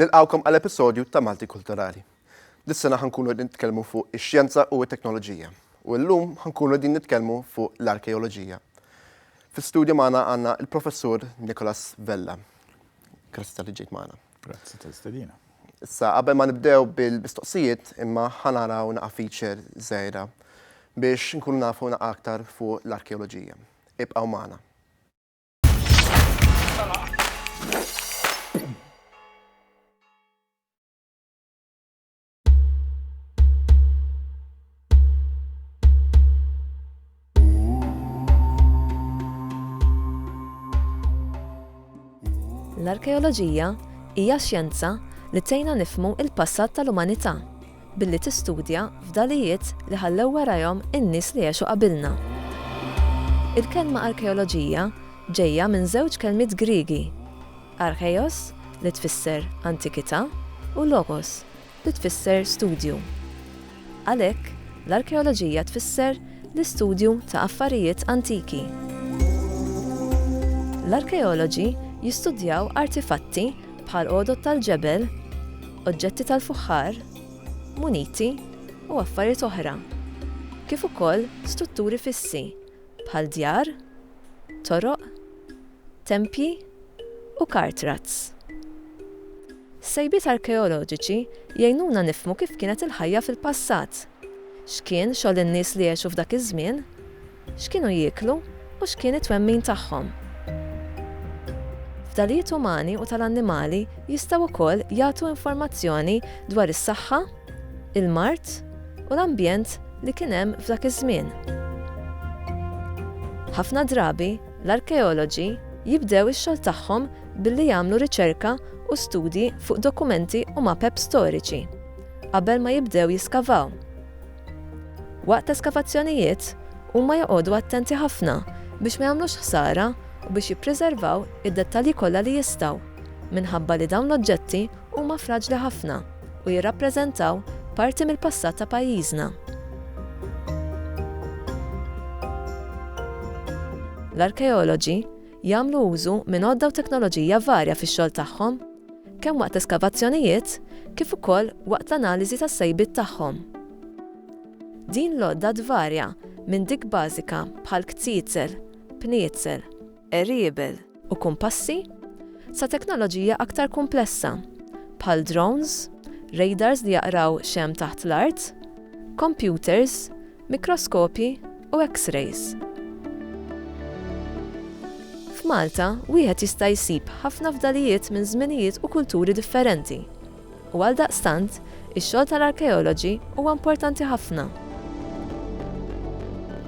Nilqgħukom għal episodju ta' Malti Kulturali. Dis-sena ħa nkunu qegħdin nitkellmu fuq ix-xjenza u t-teknoloġija u llum ħa nkunu qegħdin nitkellmu fuq l-arkeoloġija. Fi studju magħna għandna l-Professur Nicholas Vella. Grazzi tal-li ġejt magħna. Grazzi tal-istedina. Issa, qabel ma nibdew bil-mistoqsijiet, imma ħanaraw naqa' feature żgħira biex nkunu nafu naqa' aktar fuq l-arkeoloġija. Ibqgħu magħna. L-arkeoloġija hija xjenza li tgħinna nifhmu l-passat tal-umanità. billi tistudja fdalijiet li ħallew warajhom in-nies li għexu qabilna. Il-kelma arkeoloġija ġejja minn żewġ kelmiet Griegi, archeios, li tfisser antikità, u logos, li tfisser studju. Għalhekk, l-arkeoloġija tfisser l-istudju ta' affarijiet antiki. L-arkeoloġi jistudjaw artifatti bħal għodod tal-ġebel, oġġetti tal-fuħħar, muniti u affarijiet oħra, kif ukoll strutturi fissi bħal djar, toroq, tempji u car tracks. Sejbiet arkeoloġiċi jgħinuna nifhmu kif kienet il-ħajja fil-passat. X'kien xogħol in-nies li għexu f'dak iż-żmien? X'kienu jieklu u x'kien it-twemmin tagħhom? Fdalijiet umani u tal-annimali jistgħu wkoll jagħtu informazzjoni dwar is-saħħa, il-mard u l-ambjent li kien hemm f'dak iż-żmien. Ħafna drabi, l-arkeoloġi jibdew ix-xogħol tagħhom billi jagħmlu riċerka u studji fuq dokumenti u mapep storiċi. qabel ma jibdew jiskavaw. Waqt eskavazzjonijiet, huma joqogħdu attenti ħafna biex ma jagħmlux ħsara u biex jippriservaw id-dettalji kollha li jistgħu, minħabba li dawn l-oġġetti huma fraġli ħafna u jirrappreżentaw parti mill-passat ta' pajjiżna. L-arkeoloġi jagħmlu użu minn għodda u teknoloġija varja fix-xogħol tagħhom, kemm waqt l-eskavazzjonijiet kif ukoll waqt l-analiżi tas-sejbiet tagħhom. Din l-għodda tvarja minn dik bażika bħal kziezel, pniezel, qeriebel u kumpassi sa teknoloġija aktar kumplessa bħal drones, radars li jaqraw x'hemm taħt l-art, kompjuters, mikroskopji u X-rays. F'Malta, wieħed jista' jsib ħafna fdalijiet minn żminijiet u kulturi differenti, u għaldaqstant, ix-xogħol tal-arkeoloġi huwa importanti ħafna.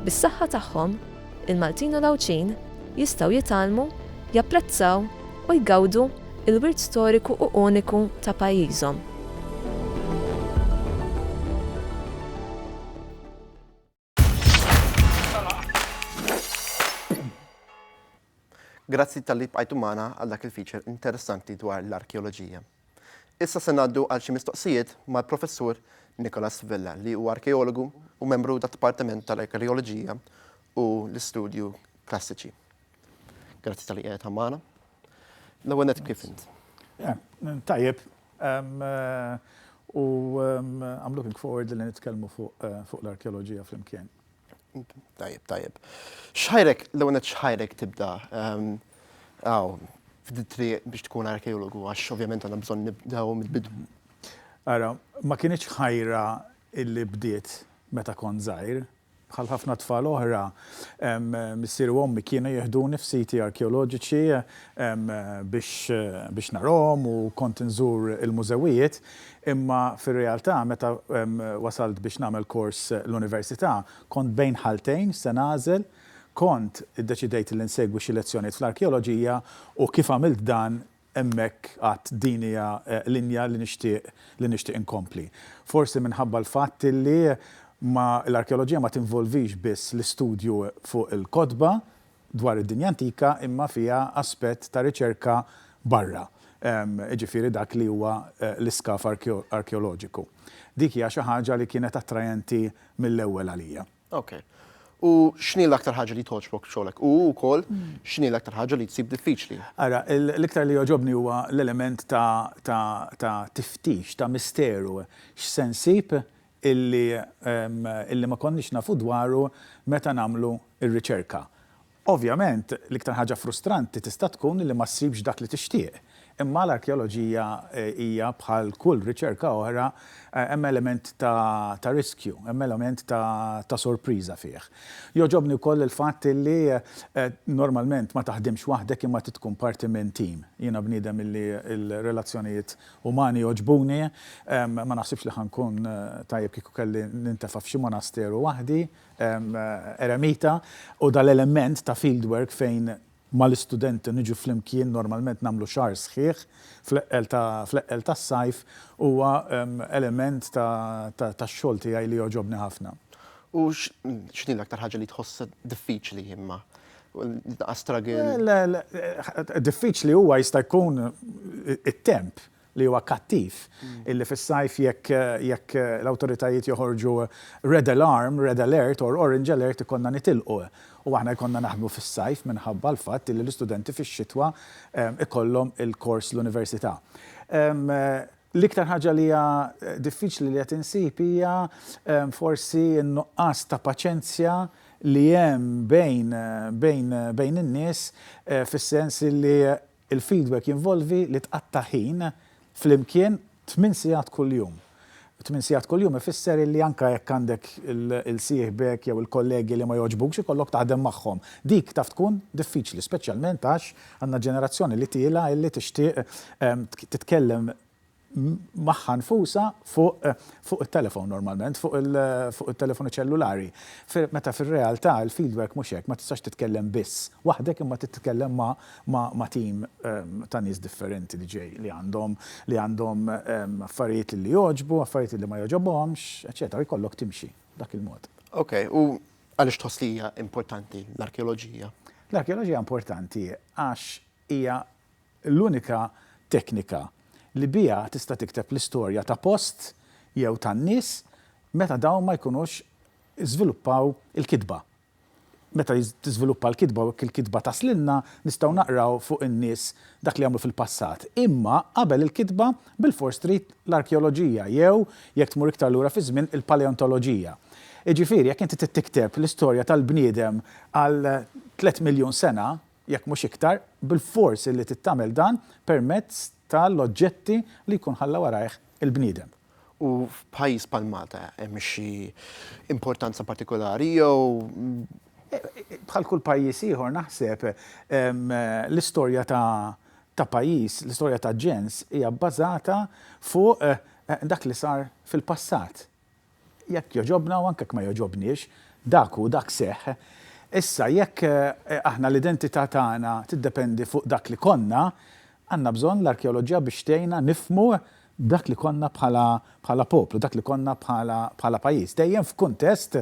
Bis-saħħa tagħhom, Il-Maltin u l-Għawdxin jistgħu jitgħallmu, japprezzaw u jgawdu l-wirt storiku u uniku ta' pajjiżhom. Grazzi talli bqajtu magħna għal dak il-feature interessanti dwar l-arkeoloġija. Issa se ngħaddu għal xi mistoqsijiet mal-Professur Nicholas Vella li huwa arkeologu u membru tad-Dipartiment tal-Arkeoloġija u l-Istudju Klassiċi. Grazzi talli qiegħed hawn magħna. L-ewwel nett kif int? Tajjeb. U I'm looking forward li nitkellmu fuq l-arkeoloġija flimkien. Tajjeb, tajjeb. Xħajrek, l-ewwel nett xħajrek tibda ehm, għaw, f'ditri biex tkun arkeologu, għax ovvjament għandna bżonn nibdew mill-bidu. Ara, ma kienieċ ħajra illi bdiet meta kont żgħir, bħal ħafna tfal oħra, missier u ommi kienu jihduni f'siti arkeoloġiċi biex narom u kont nżur il-mużewijiet, Imma fir-realtà meta wasalt biex nagħmel kors l-università, kont bejn ħaltejn x'se nagħżel, kont iddeċidejt li nsegwi xi lezzjonijiet fl-arkeoloġija u kif għamilt dan hemmhekk għadt din hija linja li nixtieq li nixtieq inkompli. Forsi minħabba l-fatt li ma l-arkeoloġija ma tinvolvix biss l-istudju fuq il-kotba, dwar id-dinja antika imma fiha aspett ta' riċerka barra, jiġifieri dak li huwa l-iskav arkeoloġiku. Dik hija xi ħaġa li kienet attrajenti mill-ewwel għalija. Ok. U x'inhi l-aktar ħaġa li togħġbok f'xogħlek? U wkoll x'inhi l-aktar ħaġa li tsib diffiċli? Ara, l-iktar li jogħġobni huwa l-element ta' tiftix, ta' misteru. X'se nsib? illi illi ma konniex nafu dwaru meta nagħmlu r-riċerka. Ovvjament, l-iktar ħaġa frustranti tista' tkun illi ma ssibx dak li tixtieq. Imma l-arkeoloġija hija bħal kull riċerka oħra, hemm element ta' ta' riskju, hemm element ta' ta' sorpriża fih. Jogħġobni wkoll il-fatt illi normalment ma taħdimx waħdek imma trid tkun parti minn team. Jiena bniedem illi l-relazzjonijiet Umani jogħġbuni. Ma naħsibx li ħa nkun tajjeb kieku kelli nintefa' f'xi monasteru waħdi, eremita, u dal-element ta' field work fejn mal-istudenti niġu flimkien, normalment nagħmlu xahar sħiħ fl-eqqel tas-sajf, huwa element tax-xogħol tiegħi li jogħġobni ħafna. U x'inhi l-aktar ħaġa li tħossha diffiċli imma Nitnaqqas straggle. Le, le, diffiċli huwa jista' jkun it-temp li huwa kattiv illi fis-sajf jekk jekk l-awtoritajiet joħorġu red alarm, red alert or orange alert ikollna nitilqu u aħna jkollna naħdmu fis-sajf minħabba l-fatt illi l-istudenti fix-xitwa ikollhom il-kors l-università. L-iktar ħaġa li hija diffiċli li qed insib hija forsi n-nuqqas ta' paċenzja li hemm bejn bejn bejn in-nies fis-sens illi l-feedback jinvolvi li tqatta' ħin flimkien tmien sigħat kuljum. Tmien sigħat kuljum ifisser illi anke jekk għandek il-sieħbek jew il-kollegi li ma jogħġbukx ikollok taħdem magħhom. Dik taf tkun diffiċli speċjalment għax Għandna ġenerazzjoni li tiela' illi tixtieq titkellem magħha nfusha fuq it-telefon normalment, fuq it-telefonu ċellulari. Meta fir-realtà il-fieldwork mhux hekk, ma tistax titkellem biss waħdek imma trid titkellem ma' tim ta' nies differenti li ġej, li għandhom li għandhom affarijiet li jogħġbu, affarijiet li ma jogħġobhomx, eċċetera u jkollok timxi b'dak il-mod. Ok, u Għaliex tħoss li hija importanti l-arkeoloġija? L-arkeoloġija importanti għax hija l-unika teknika li biha tista' tikteb l-istorja ta' post jew tan-nies meta dawn ma jkunux żviluppaw il-kitba. Meta tiżviluppa l-kitba u hekk il-kitba taslilna, nistgħu naqraw fuq in-nies dak li għamlu fil-passat. Imma qabel il-kitba Bilfors trid l-arkeoloġija jew, jekk tmur iktar lura fiż-żmien, il-paleontoloġija. Jiġifieri, jekk inti trid tikteb l-istorja tal-bniedem għal tliet miljun sena, jekk mhux iktar, bilfors illi trid tagħmel dan permezz tal-oġġetti li jkun ħalla warajh il-bniedem. U f'pajjiż bħal Malta hemm xi importanza partikolari jew. Bħal kull pajjiż ieħor naħseb, l-istorja ta' ta' pajjiż, l-istorja ta' ġens hija bbażata fuq dak li sar fil-passat. Jekk jogħġobna u anke jekk ma jogħġobniex, dak hu, dak seħħ. Issa, jekk aħna l-identità tagħna tiddependi fuq dak li konna, għandna bżonn l-arkeoloġija biex tgħinna nifhmu dak li konna bħala poplu, dak li konna bħala pajjiż, dejjem f'kuntest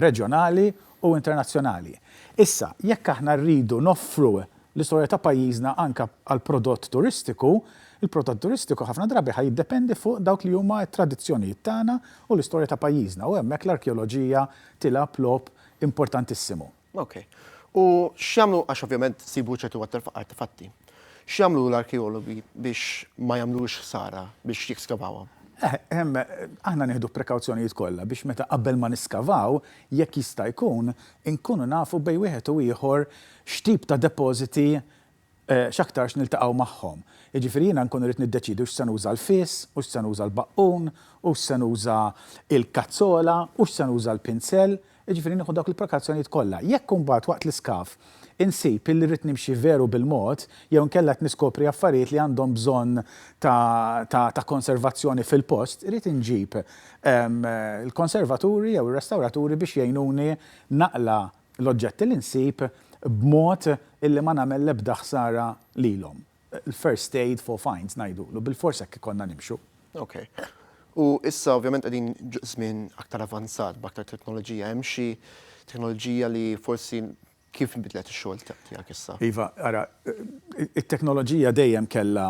reġjonali u internazzjonali. Issa, jekk aħna rridu noffru L-istorja ta' pajjiżna anke għall-prodott turistiku, il-prodott turistiku ħafna drabi ħa jiddependi fuq dawk li huma t-tradizzjonijiet tagħna u l-istorja ta' pajjiżna u hemmhekk l-arkeoloġija tilgħab logħob importantissimu. Ok. U x'jagħmlu, għax ovvjament ssibu ċertu artefatti, x'jagħmlu l-arkeologi biex ma jagħmlux ħsara biex jeskavawhom? Eh, ehm, aħna nieħdu prekawzjonijiet kollha biex meta qabel ma niskavaw, jekk jista' jkun, inkunu nafu bejn wieħed u ieħor x'tip ta' depożiti x'aktarx niltaqgħu magħhom. Jiġifieri jiena nkun irrid niddeċiedi hux se nuża l-fis, hux se nuża l-baqqun, hux se nuża l-kazzola, hux se nuża l-pinsell, jiġifieri nieħu dawk il-prekazzjonijiet kollha. Jekk imbagħad waqt l-iskaf insib illi rrid nimxi veru bil-mod jew inkella qed niskopri affarijiet li għandhom bżonn ta' konservazzjoni fil-post, irrid inġib il-konservaturi jew ir-restawraturi biex jgħinuni naqla' l-oġġetti li nsib b'mod illi ma nagħmel l-ebda ħsara lilhom. L-first aid for finds ngħidulu, bilfors hekk ikollna nimxu. Ok. U issa ovvjament qegħdin żmien aktar avanzat b'aktar teknoloġija. Hemm xi teknoloġija li forsi kif inbidlet ix-xogħol tiegħek issa? Iva, ara, it-teknoloġija dejjem kellha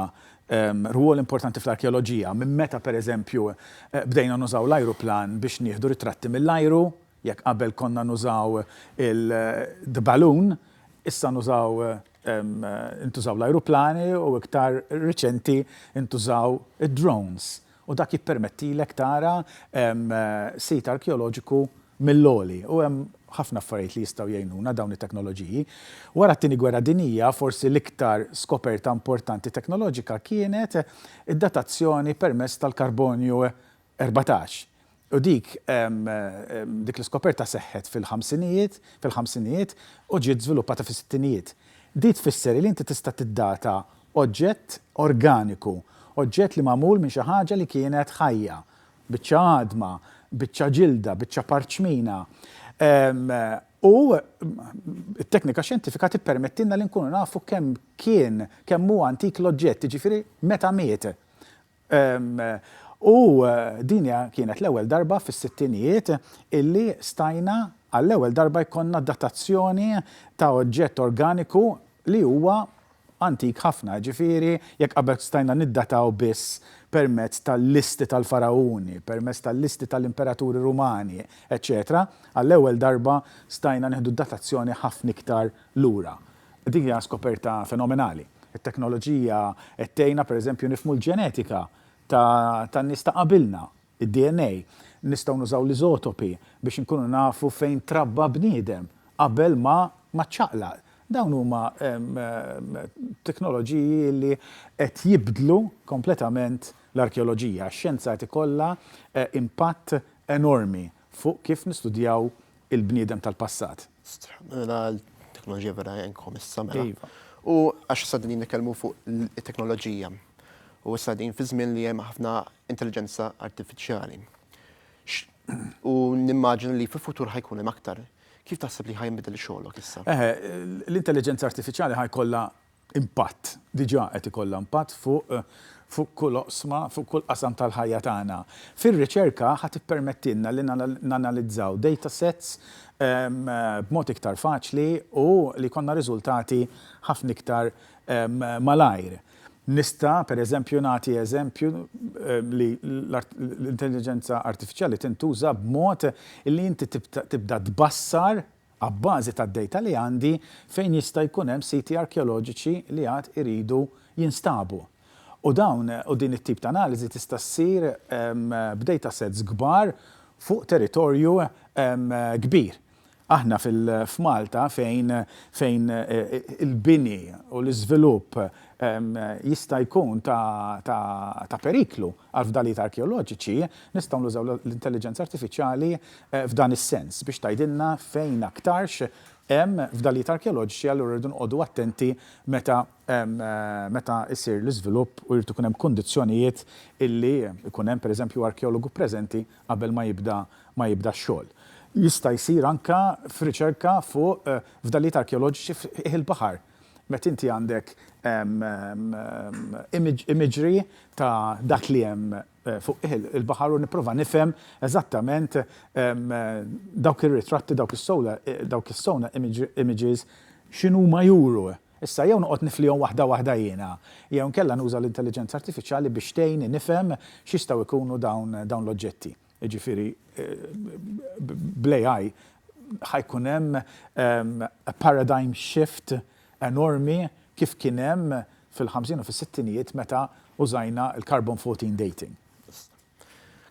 rwol importanti fl-arkeoloġija. Minn meta pereżempju bdejna nużaw l-ajruplan biex nieħdu ritratti mill-ajru, Jekk qabel konna nużaw il-the balloon, issa nużaw intużaw l-ajruplani u iktar riċenti ntużaw id-drones u dak jippermettilek tara sit arkeoloġiku mill-għoli u hemm ħafna affarijiet li jistgħu jgħinuna dawn it-teknoloġiji. Wara t-Tieni Gwerra Dinjija forsi l-iktar skoperta importanti teknoloġika kienet id-datazzjoni permezz tal-karbonju 14 U dik, dik l-iskoperta seħħet fil-ħamsinijiet, fil-ħamsinijiet, u ġiet żviluppata fis-sittinijiet. Di tfisser li inti tista' tiddata oġġett organiku, oġġett li magħmul minn xi ħaġa li kienet ħajja, biċċa għadma, biċċa ġilda, biċċa parċmina. U t-teknika xjentifika tippermettilna li nkunu nafu kemm kien, kemm hu antik l-oġġett, jiġifieri meta miet. U din hija kienet l-ewwel darba fis-sittinijiet illi stajna għall-ewwel darba jkollna datazzjoni ta' oġġett organiku li huwa antik ħafna, jiġifieri jekk qabel stajna niddataw biss permezz tal-listi tal-Faragħuni, permezz tal-listi tal-Imperaturi Rumani, eċċetera, għall-ewwel darba stajna nieħdu datazzjoni ħafna iktar lura. Din hija skoperta fenomenali. It-teknoloġija qed tgħinna pereżempju nifhmu l-ġenetika tan-nies ta' qabilna, id-DNA. Nistgħu nużaw l-iżotopi biex inkunu nafu fejn trabba bniedem qabel ma ma ċċaqlaq. Dawn huma teknoloġiji li qed jibdlu kompletament l-arkeoloġija. Ix-xjenza qed ikollha impatt enormi fuq kif nistudjaw il-bniedem tal-passat. Mela l-teknoloġija vera għenkom issa mela. Iva. U għax issa qegħdin nitkellmu fuq it-teknoloġija u issa qegħdin fi żmien li hemm ħafna intelliġenza artifiċjali. U nimmaġina li fil-futur ħa jkun hemm aktar. Kif taħseb li ħa jinbidel xogħlok issa? Eħe, l-intelliġenza artifiċjali ħa jkollha impatt, diġà qed ikollha impatt fuq fuq kull oqsma, fuq kull qasam tal-ħajja tagħna. Fir-riċerka ħa tippermettilna li nanalizzaw data sets b'mod iktar faċli u li jkollna riżultati ħafna iktar malajr. Nista', pereżempju, nagħti eżempju li l-intelliġenza artifiċjali tintuża b'mod li inti tibda tbassar, abbażi tad-dejta li għandi, fejn jista' jkun hemm siti arkeoloġiċi li għad iridu jinstabu. U dawn, u din it-tip ta' analiżi tista' ssir b'datasets kbar fuq territorju kbir. Aħna f'Malta fejn fejn il-bini u l-iżvilupp jista' jkun ta' ta' periklu, Għall-fdalijiet arkeoloġiċi, nistgħu nużaw l-intelliġenza artifiċjali f'dan is-sens, biex tgħidilna fejn aktarx hemm fdalijiet arkeoloġiċi, allura rridu noqogħdu attenti meta meta jsir l-iżvilupp u jrid ikun hemm kundizzjonijiet illi jkun hemm pereżempju arkeologu preżenti qabel ma jibda ma jibda x-xogħol. Jista' jsir anke f'riċerka fuq fdalijiet arkeoloġiċi f'qiegħ il-baħar. Meta inti għandek imagery ta' dak li hemm fuq il-baħar u nipprova nifhem eżattament dawk ir-ritratti, dawk is-sonar images x'inhuma juru. Issa jew noqgħod niflihom waħda waħda jiena, jew inkella nuża l-intelliġenza artifiċjali biex tgħinni nifhem x'jistgħu jkunu dawn l-oġġetti. jiġifieri bl-AI ħa jkun hemm paradigm shift enormi kif kien hemm fil-ħamsin u fis-sittinijiet meta użajna l-carbon 14 dating.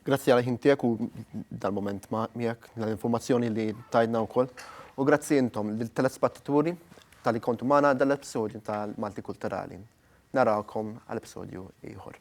Grazzi għal ħin tiegħek u dal-mument miegħek, dal-informazzjoni li tajtna wkoll. U grazzi intom, lill-telespattaturi, talli kontu magħna dan l-episodju tal-Maltikulturali. Narawkom għal episodju ieħor.